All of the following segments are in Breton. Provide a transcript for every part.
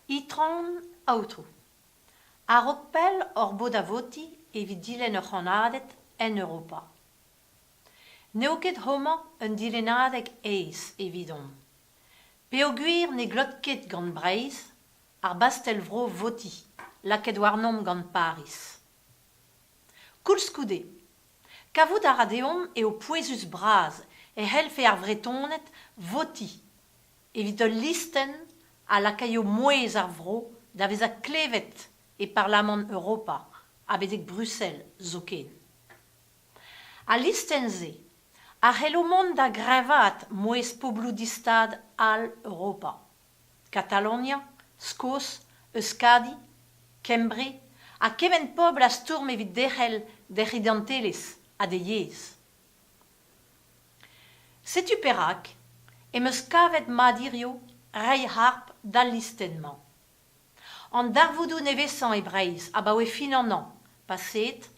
Itron Aotrou, a-raok pell hor bo da votiñ evit dilenn ur c'hannaded en Europa. N'eo ket homañ un dilennadeg aes evidomp, peogwir ne glot ket gant Breizh Ar bastell-vro votiñ, lakaet warnomp gant Pariz. Koulskoude, kavout a ra deomp eo pouezus-bras e c'hellfe ar Vretoned votiñ evit ul listenn a lakaio mouezh ar vro da vezañ klevet e Parlamant Europa ha betek Bruxelles zoken. Al listenn-se a c'hello mont da greñvaat mouezh pobloù distad all Europa. Katalonia, Skos, Euskadi, Kembre ha kement pobl a stourm evit derc'hel d'hec'h identelezh ha d'he yezh. Setu perak em eus kavet mat hiziv reiñ harp d'al listenn-mañ. An darvoudoù nevesañ e Breizh abaoe fin an hañv paseet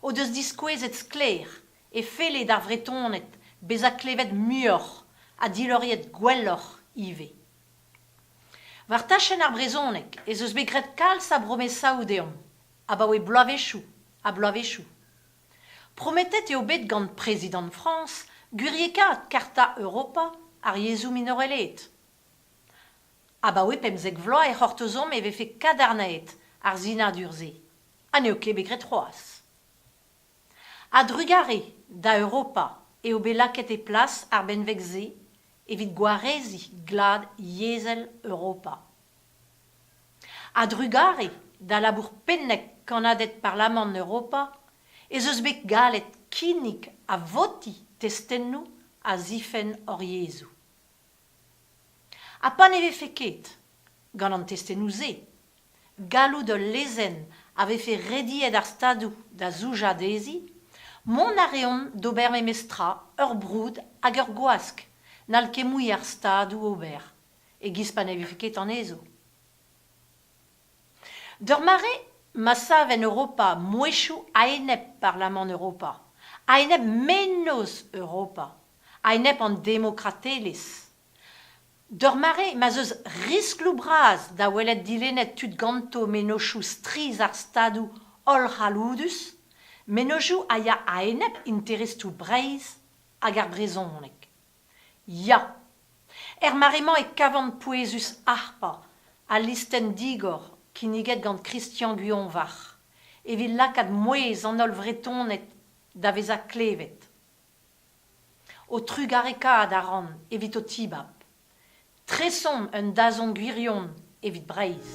o deus diskouezet sklaer e felle d'ar Vretoned bezañ klevet muioc'h ha diloriet gwelloc'h ivez. War tachenn ar brezhoneg ez eus bet graet kalz a bromesaoù deomp abaoe bloavezhioù ha bloavezhioù. Prometet eo bet gant Prezidant Frañs gwiriekaat Karta Europa ar yezhoù minorelaet. Abaoe pemzek vloaz e c'hortozomp e vefe kadarnaet ar sinadur-se ha n'eo ket bet graet c'hoazh. A-drugarez da Europa eo bet lakaet e plas ar benveg-se evit gwareziñ glad yezhel Europa. A-drugarez da labour pennek kannaded Parlamant Europa ez eus bet gallet kinnig ha votiñ testennoù a zifenn hor yezhoù. Ha pa ne vefe ket, gant an testennoù-se, galloud ul lezenn a vefe rediet ar Stadoù da zoujañ dezhi, mont a reont d'ober memes tra, ur broud hag ur gwask n'hall ket mui ar Stadoù ober, e-giz pa ne vefe ket anezho. D'ur mare ma sav en Europa mouezhioù a-enep Parlamant Europa, a-enep mennozh Europa, a-enep an demokratelezh, d'ur mare ma'z eus riskloù bras da welet dilennet tud ganto mennozhioù strizh ar Stadoù hollc'halloudus, mennozhioù a ya a-enep interestoù Breizh hag ar brezhoneg. Ya! Er mare-mañ e kavan pouezus harpañ al listenn digor kinniget gant Christian Guionvarc'h evit lakaat mouezh an holl Vretoned da vezañ klevet. Ho trugarekaat a ran evit ho tibab. Tresomp un dazont gwirion evit Breizh!